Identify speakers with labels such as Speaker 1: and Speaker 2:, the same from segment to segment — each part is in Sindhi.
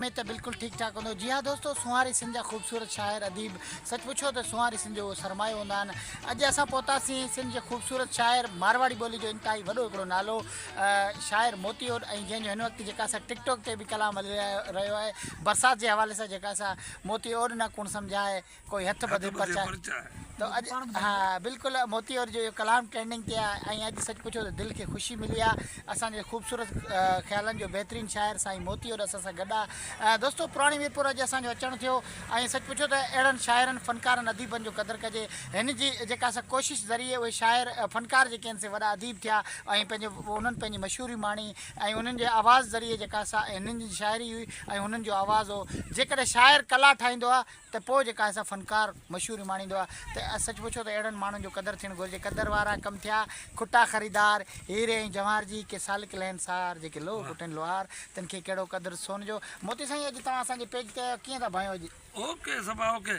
Speaker 1: ۾ ته بلڪل ٺيڪ ٺاڪ هوندو. جي ها دوستو سونهاري سنڌ جا خوبصورت شاعر اديب سچ پڇو ته سونهاري سنڌ جو اهو سرمايو هوندا آهن. اڄ اسان پهتاسين سنڌ جي خوبصورت شاعر مارواڙي ٻولي جو انتهائي وڏو هڪڙو نالو شاعر موتي اوڏ ۽ جنهن جو هن وقت جيڪا سا ٽڪ ٽوڪ تي به ڪلام هلي رهيو آهي برسات جي حوالي سان جيڪا سا موتي اوڏ نه ڪوڻ سمجهائي. ڪوئي هٿ ٻڌي پرچاء تو اڄ ها بلڪل موتي اور جو اهو ڪلام ٽرينڊنگ تي آهي ۽ اڄ سچ پڇو ته دل کي خوشي ملي آهي اسان جي خوبصورت خيالن جو بهترين شاعر سائين موتي اور اسان سان گڏ آهي دوستو پراڻي ميرپور اڄ اسان جو اچڻ ٿيو ۽ سچ پڇو ته اهڙن شاعرن فنڪارن اديبن جو قدر ڪجي هن جي جيڪا سا ڪوشش ذريعي اهي شاعر فنڪار جيڪي آهن سي وڏا اديب ٿيا ۽ پنهنجو انهن پنهنجي مشهوري ماڻي ۽ انهن جي آواز ذريعي جيڪا سا هنن جي شاعري هئي ۽ هنن جو آواز هو جيڪڏهن شاعر ڪلا ٺاهيندو آهي ته پوء جيڪا اهسا فنڪار مشهوري ماڻيندو آ ته سچ پڇو ته اهڙن ماڻهن جو قدر ٿيڻ گهرجي قدر وارا ڪم ٿيا کٽا خريدار هيري ۽ جواهر جي ڪي سالڪ لهن سار جيڪي لوهه ڪٽن لوهار تن کي ڪهڙو قدر سون جو موتي سائين اڄ توهان اسان جي پيج تي آيو ڪيئن ٿا ڀايو اڄ. اوڪي صبا اوڪي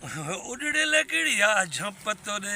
Speaker 2: اڏڙيل ڪھڙي آ جھمپ تو ڏي.